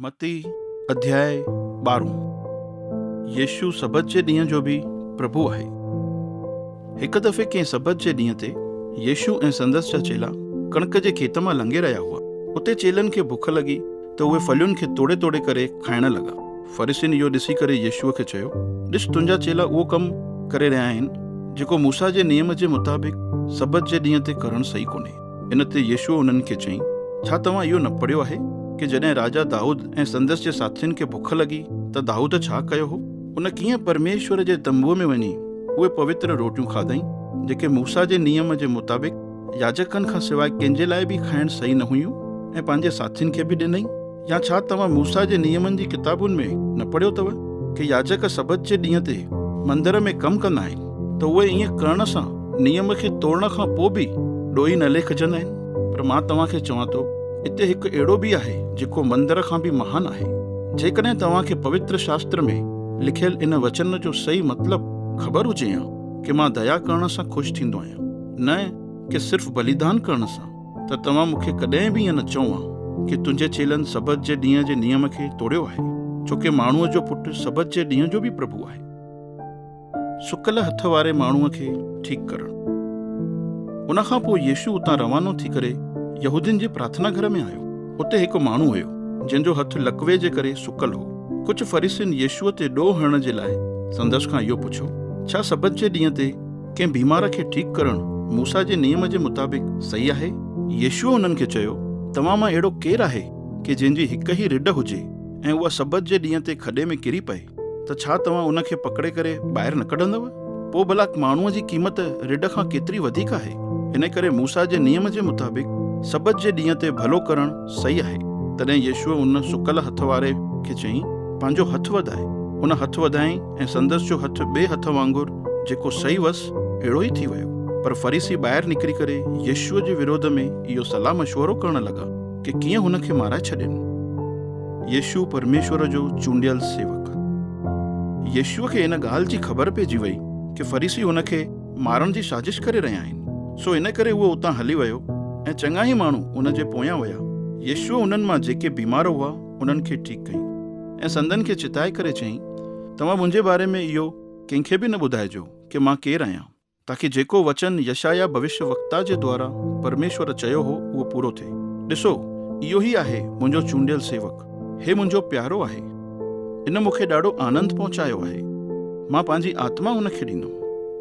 متي اڌياء ٻارهون يسوع سبت جي ڏينهن جو به پرڀو آهي. هڪ دفعي ڪنهن سبت جي ڏينهن تي يسوع ۽ سندس جا چيلا ڪڻڪ جي کيت مان لنگهي رهيا هئا. اتي چيلن کي بک لڳي ته اهي ڦلين کي توڙي توڙي ڪري کائڻ لڳا. فريسين اهو ڏسي ڪري يسوع کي چيو، ڏس تنهنجا چيلا اهو ڪم ڪري رهيا آهن جيڪو موسيٰ جي نيم جي مطابق سبت جي ڏينهن تي ڪرڻ صحيح ڪونهي. ان تي يسوع انهن کي چيائين، ڇا توهان اهو نه پڙهيو آهي ڪي جڏهن راجا دائود ۽ سندس جي ساٿين کي بک لڳي ته دائود ڇا ڪيو هو؟ هن ڪيئن پرميشور جي تنبوء ۾ وڃي اهي پوتر روٽيون کاڌائين، جيڪي موسيٰ جي نيم جي مطابق ياجڪن کان سواء ڪنهن جي لاء به کائڻ صحيح نه هيون ۽ پنهنجي ساٿين کي به ڏنائين. يا ڇا توهان موسيٰ جي نيمن جي ڪتابن ۾ نه پڙهيو اٿو ته ياجڪ سبت جي ڏينهن تي مندر ۾ ڪم ڪندا آهن ته اهي ائين ڪرڻ سان نيم کي ٽوڙڻ کان پوء به ڏوهي نه ليکجندا آهن؟ پر مان توهان کي چوان ٿو، اتي هڪ اهڙو به آهي جيڪو مندر کان به مهان آهي. جيڪڏهن توهان کي پوتر شاستر ۾ لکيل ان وچن جو صحيح مطلب خبر هجي ها ڪه مان ديا ڪرڻ سان خوش ٿيندو آهيان نه ڪه صرف بليدان ڪرڻ سان، ته توهان مون کي ڪڏهن به ائين نه چئو ها ڪي تنهنجي چيلن سبت جي ڏينهن جي نيم کي ٽوڙيو آهي، ڇو ڪي ماڻهوء جو پٽ سبت جي ڏينهن جو به پرڀو آهي. سڪل هٿ واري ماڻهوء کي ٺيڪ ڪرڻ. ان کان پوء يسوع اتان روانو ٿي ڪري يهودين جي پرارٿنا گهر ۾ آيو. اتي هڪ ماڻهو هيو، جنهن جو هٿ لقوي جي ڪري سڪل هو. ڪجهه فريسين يسوع تي ڏوهه هڻڻ جي لاء سندس کان اهو پڇيو، ڇا سبت جي ڏينهن تي ڪنهن بيمار کي ٺيڪ ڪرڻ موسيٰ جي نيم جي مطابق صحيح آهي؟ يسوع انهن کي چيو، توهان مان اهڙو ڪير آهي ڪي جنهن جي هڪ ئي رڍ هجي ۽ اها سبت جي ڏينهن تي کڏي ۾ ڪري پئي ته ڇا توهان ان کي پڪڙي ڪري ٻاهر نه ڪڍندؤ؟ پوء ڀلا ماڻهوء جي قيمت رڍ کان ڪيتري وڌيڪ آهي؟ انهي ڪري موسيٰ جي نيم جي مطابق سبت جي ڏينهن تي ڀلو ڪرڻ صحيح آهي. تڏهن يسوع ان سڪل هٿ واري کي چيائين، پنهنجو هٿ وڌاء. ان هٿ وڌائين. ۽ سندس جو هٿ ٻئي هٿ وانگر جيڪو سئي هئس، اهڙو ئي ٿي ويو. پر فريسي ٻاهر نڪري ڪري يسوع جي وروڌ ۾ اهو صلاح مشورو ڪرڻ لڳا ڪي ڪيئن هن کي مارائي ڇڏين. يسوع پرميشور جو چونڊيل سيوڪ. يسوع کي ان ڳالهه جي خبر پئجي وئي ڪي فريسي هن کي مارڻ جي سازش ڪري رهيا آهن، سو ان ڪري هو اتان هلي ويو ۽ چڱا ئي ماڻهو هن جي پويان ويا. يسوع انهن مان جيڪي بيمار هئا، انهن کي ٺيڪ ڪيائين ۽ سندن کي چتائي ڪري چيائين، توهان منهنجي باري ۾ اهو ڪنهن کي به نه ٻڌائجو ڪي مان ڪير آهيان، تاڪي جيڪو وچن يشعيا ڀوشيوڪتا جي دوارا پرميشور چيو هو اهو پورو ٿئي، ڏسو، اهو ئي آهي منهنجو چونڊيل سيوڪ، هي منهنجو پيارو آهي، ان مون کي ڏاڍو آنند پهچايو آهي، مان پنهنجي آتما هن کي ڏيندم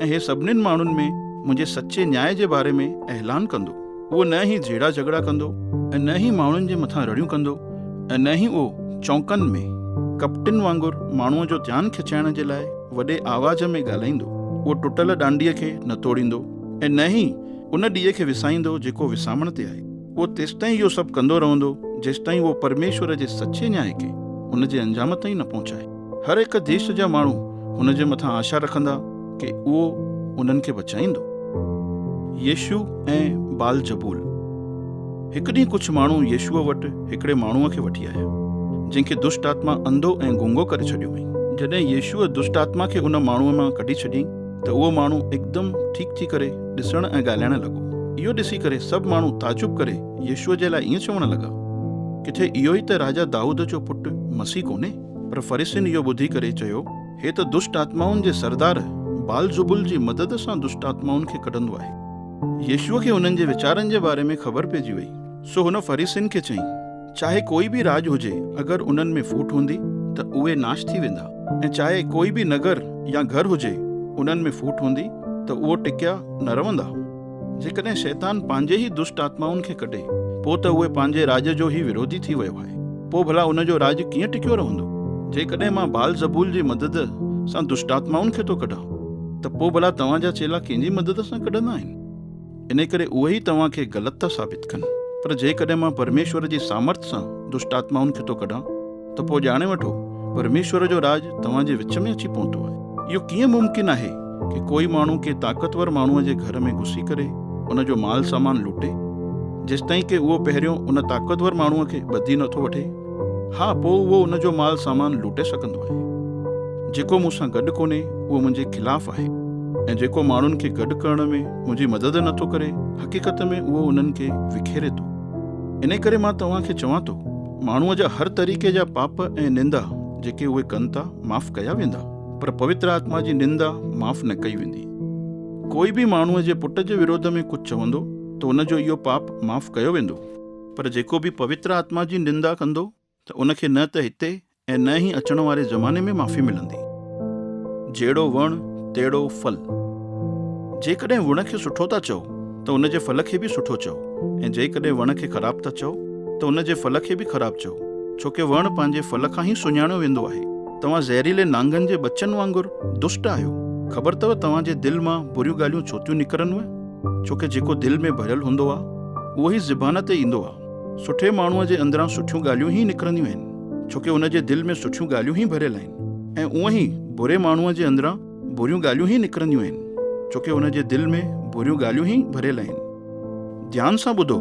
۽ هي سڀني ماڻهن ۾ منهنجي سچي نياء جي باري ۾ اعلان ڪندو. اهو نه ئي جهيڙا جهڳڙا ڪندو ۽ نه ئي ماڻهن جي مٿان رڙيون ڪندو ۽ نه ئي اهو چونڪن ۾ ڪپٽين وانگر ماڻهوء جو ڌيان کچائڻ جي لاء وڏي آواز ۾ ڳالهائيندو. اهو ٽٽل ڏانڊيء کي نه توڙيندو ۽ نه ئي ان ڏيئي کي وسائيندو جيڪو وسامڻ تي آهي. اهو تيستائين اهو سڀ ڪندو رهندو جيستائين اهو پرميشور جي سچي نياء کي ان جي انجام تائين نه پهچائي. هر هڪ ديس جا ماڻهو هن جي مٿان آشا رکندا ڪي اهو انهن کي بچائيندو. يشوع ۽ بعلزبول. هڪ ڏينهن ڪجهه ماڻهو يشوع وٽ هڪڙي ماڻهوء کي وٺي آيا، جنهن کي دشٽ آتما انڌو ۽ گونگو ڪري ڇڏيو هئائين. جڏهن يشوع دشٽ آتما کي ان ماڻهوء مان ڪڍي ڇڏيائين ته اهو ماڻهو هڪدم ٺيڪ ٿي ڪري ڏسڻ ۽ ڳالهائڻ لڳو. اهو ڏسي ڪري سڀ ماڻهو تعجب ڪري يشوع جي لاء ائين چوڻ لڳا، ڪٿي اهو ئي ته راجا دائود جو پٽ مسيح ڪونهي؟ پر فريسين اهو ٻڌي ڪري چيو، هي ته دشٽ آتمائن جي سردار بعلزبول جي مدد سان دشٽ آتمائن کي ڪڍندو آهي. يسوع کي انهن جي ويچارن جي باري ۾ خبر پئجي وئي، سو هن فريسين کي چيائين، چاهي ڪوئي به راڄ هجي، اگر انهن ۾ ڦوٽ هوندي، ته اهي ناش ٿي ويندا، ۽ چاهي ڪوئي به نگر يا گهر هجي، انهن ۾ ڦوٽ هوندي، ته اهي ٽڪيا نه رهندا. جيڪڏهن شيطان پنهنجي ئي دشٽ آتمائن کي ڪڍي، پوء ته اهي پنهنجي راڄ جو ئي وروڌي ٿي ويو آهي. پوء ڀلا ان جو راڄ ڪيئن ٽڪيو رهندو؟ جيڪڏهن مان بال زبول جي مدد سان دشٽ آتمائن کي ٿو ڪڍان، ته پوء ڀلا توهان جا چيلا ڪنهن جي مدد سان ڪڍندا آهن؟ انهيء ڪري اهي ئي توهان کي غلط ٿا ثابت ڪن. پر جيڪڏهن مان پرميشور جي سامرٿ سان دشٽ آتمائن کي ٿو ڪڍان، ته پوء ڄاڻي وٺو، پرميشور جو راڄ توهان جي وچ ۾ اچي پهتو آهي. اهو ڪيئن ممڪن آهي ڪي ڪوئي ماڻهو ڪي طاقتور ماڻهوء جي گهر ۾ گهسي ڪري ان جو مال سامان لوٽي، جيستائين ڪي اهو پهريون ان طاقتور ماڻهوء کي ٻڌي نه ٿو وٺي؟ ها، پوء اهو ان جو مال سامان لوٽي سگهندو آهي. جيڪو مون سان گڏ ڪونهي، اهو منهنجي خلاف آهي. ۽ جيڪو ماڻهن کي گڏ ڪرڻ ۾ منهنجي مدد نه ٿو ڪري، حقيقت ۾ اهو انهن کي وکيري ٿو. انهيء ڪري مان توهان کي چوان ٿو، ماڻهوء جا هر طريقي جا پاپ ۽ نندا جيڪي اهي ڪن ٿا معاف ڪيا ويندا پر پوتر آتما جي نندا معاف نه ڪئي ويندي ڪوئي به ماڻهوء جي پٽ جي وروڌ ۾ ڪجهه چوندو ته ان جو اهو پاپ معاف ڪيو ويندو پر جيڪو به پوتر آتما جي نندا ڪندو ته ان کي نه ته هتي ۽ نه ئي اچڻ واري زماني ۾ معافي ملندي جهڙو وڻ تهڙو ڦل جيڪڏهن وڻ کي سٺو ٿا چئو ته ان جي ڦل کي به سٺو چئو ۽ جيڪڏهن وڻ کي خراب ٿا چئو ته ان جي ڦل کي به خراب چئو ڇو ڪي وڻ پنهنجي ڦل کان ئي سڃاڻيو ويندو آهي. توهان زهريلي نانگن جي ٻچن وانگر دشٽ آهيو. خبر اٿو توهان جي دل مان بريون ڳالهيون ڇو ٿيون نڪرنوء ڇو ڪي جيڪو دل ۾ ڀريل هوندو آهي اهو ئي زبان تي ايندو آهي. سٺي ماڻهوء جي اندران سٺيون ڳالهيون ئي نڪرنديون آهن ڇو ڪي ان جي دل ۾ سٺيون ڳالهيون ئي ڀريل آهن ۽ اونئن ئي بري ماڻهوء جي اندران، بريون ڳالهيون ئي نڪرنديون آهن ڇوڪه هن جي دل ۾ بريون ڳالهيون ئي ڀريل آهن. ڌيان سان ٻڌو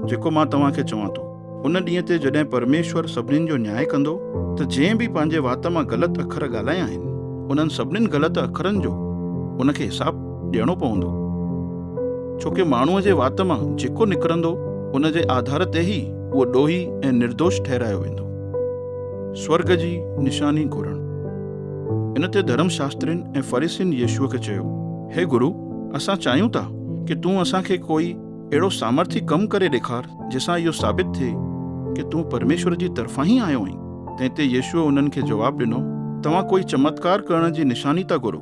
جيڪو مان توهان کي چوان ٿو. ان ڏينهن تي جڏهن پرميشور سڀنين جو نياء ڪندو ته جنهن به پنهنجي وات مان غلط اکر ڳالهايا آهن انهن سڀنين غلط اکرن جو ان کي حساب ڏيڻو پوندو ڇوڪه ماڻهوء جي وات مان جيڪو نڪرندو ان جي آڌار تي ئي اهو ڏوهي ۽ نردوش ٺهرايو ويندو. سورڳ جي نشاني گهرڻ. ان تي ڌرم شاسترين ۽ فريسين يسوع کي چيو، هي گرو، اسان چاهيون ٿا ڪي تون اسان کي ڪوئي اهڙو سامرٿي ڪم ڪري ڏيکار جنهن سان اهو ثابت ٿئي ڪي تون پرميشور جي طرفان ئي آيو آهين. تنهن تي يسوع انهن کي جواب ڏنو، توهان ڪوئي چمتڪار ڪرڻ جي نشاني ٿا گهرو.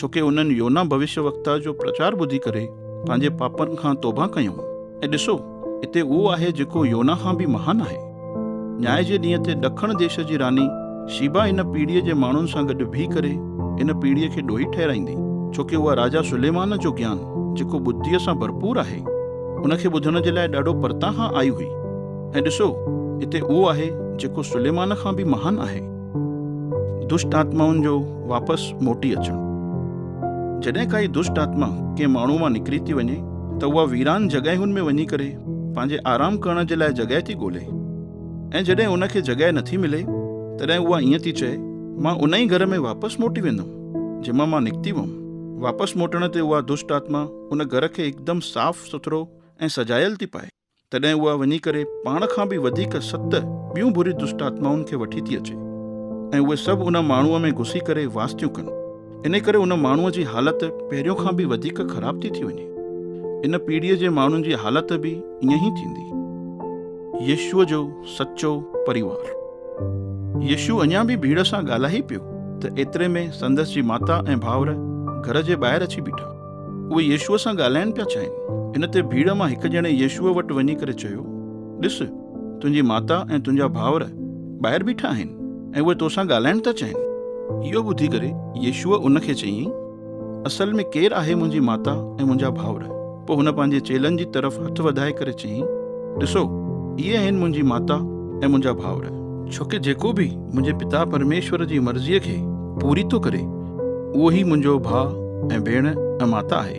ڇو ڪي انهن يونا ڀوشيا وڪتا جو پرچار ٻڌي ڪري پنهنجي پاپن کان توبهه ڪيون ۽ ڏسو اتي اهو آهي جيڪو يونا کان به مهان آهي. نياء جي ڏينهن تي ڏکڻ ديش جي راني شيبا ان پيڙهي جي ماڻهن سان گڏ بيهي ڪري ان پيڙهي کي ڏوهي ٺهرائيندي ڇو ڪي اها راجا سليمان جو گيان جيڪو ٻڌيء سان ڀرپور آهي ان کي ٻڌڻ جي لاء ڏاڍو پرتان کان آئي هئي ۽ ڏسو اتي اهو آهي جيڪو سليمان کان به مهان آهي. دشٽ آتمائن جو واپس موٽي اچڻ. جڏهن ڪائي دشٽ آتما ڪنهن ماڻهو مان نڪري ٿي وڃي ته اها ويران جڳهين ۾ وڃي ڪري پنهنجي آرام ڪرڻ جي لاء جڳهه ٿي ڳولي ۽ جڏهن ان کي جڳهه نٿي ملي تڏهن اها ائين ٿي چئي مان ان ئي گهر ۾ واپس موٽي ويندم جنهن مان مان نڪتي هئم. واپس موٽڻ تي اها دشٽ آتما ان گهر کي هڪدم صاف سٿرو ۽ سجايل ٿي پائي. تڏهن اها وڃي ڪري پاڻ کان به وڌيڪ ست ٻيون بري دشٽ آتمائن کي وٺي ٿي اچي ۽ اهي سڀ ان ماڻهوء ۾ گهسي ڪري واس ٿيون ڪن. انهي ڪري ان ماڻهوء جي حالت پهريون کان به وڌيڪ خراب ٿي ٿي وڃي. ان پيڙهيء جي ماڻهن جي حالت به ائين ئي ٿيندي. يسوع جو سچو پريوار. يسوع اڃا به ڀيڙ سان ڳالهائي پيو ته ايتري ۾ سندس جي ماتا ۽ ڀائر گهر جي ٻاهر اچي بيٺا. اهي يسوع سان ڳالهائڻ پيا چاهين. ان تي ڀيڙ مان هڪ ڄڻي يسوع وٽ وڃي ڪري چيو، ڏس، تنهنجي ماتا ۽ تنهنجا ڀائر ٻاهر بيٺا آهن ۽ اهي تو سان ڳالهائڻ ٿا چاهين. اهو ٻڌي ڪري يسوع ان کي چيائين، اصل ۾ ڪير آهي منهنجي ماتا ۽ منهنجا ڀائر؟ پوء هن پنهنجي چيلن جي طرف هٿ وڌائي ڪري چيائين، ڏسو، اهي آهن منهنجي ماتا ۽ منهنجا ڀائر. ڇوڪه جيڪو به منهنجي پتا پرميشور جي مرضيء کي پوري ٿو ڪري، اهو ئي منهنجو ڀاء ۽ ڀيڻ ۽ ماتا آهي.